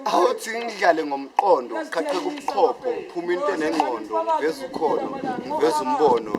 awuthi ngidlale ngomqondo uqhaqheka ubuchopho uphuma into enengqondo ngiveza ukholo ngiveza umbono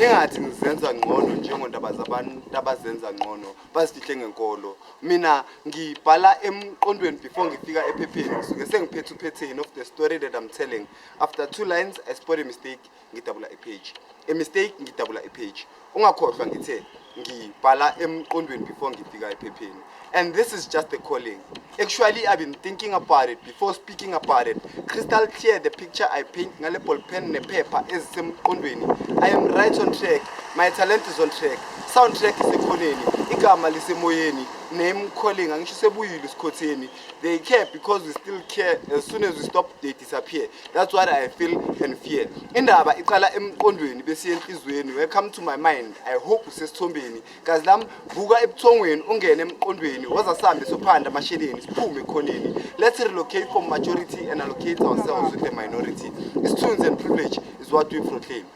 ingathi ngizenza ngcono njengondaba zabantu abazenza ngcono bazifihle ngenkolo mina ngibhala emqondweni before ngifika ephepheni ngisuke sengiphethe uphetheni of the story that i'm telling after two lines i spot a mistake ngidabula ipage a mistake ngidabula ipage ungakhohlwa ngithe ngibhala emqondweni before ngifika ephepheni and this is just the calling actually i've been thinking about it before speaking about it crystal clear the picture i paint ngale ball pen nephepha ezisemqondweni i am right on track my talent is on track sound track isekhoneni igama lisemoyeni name calling angisho sebuyile isikhotheni they care because we still care as soon as we stop dating disappear that's what i feel and fear indaba iqala emqondweni besiye enhliziyweni welcome to my mind i hope usesithombeni kazi lam vuka ebuthongweni ungene emqondweni waza sihambe sophanda amasheleni siphume ekhoneni let's relocate from majority and allocate ourselves with the minority isithunzi and privilege is what we proclaim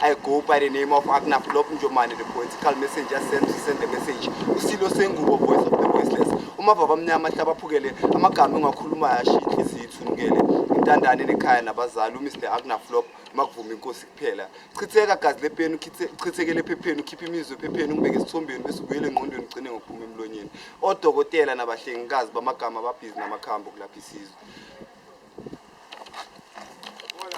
I go by the name of Agna Flop Njomane, the political messenger sent to send the message. Usilo Sengubo, voice of the voiceless. Umavava amnyama ahlaba aphukele, amagama engakhuluma yasho inhliziyo ithunukele. Intandane nekhaya nabazali, uMr Agna Flop, makuvuma inkosi kuphela. Chitheka gazi lepeni, uchithe- uchithekele ephepheni, ukhiphe imizwa ephepheni, umbeke esithombeni bese ubuyele engqondweni ugcine ngokuphuma emlonyeni. Odokotela nabahlengikazi bamagama ababhizi namakhambi okulapha isizwe.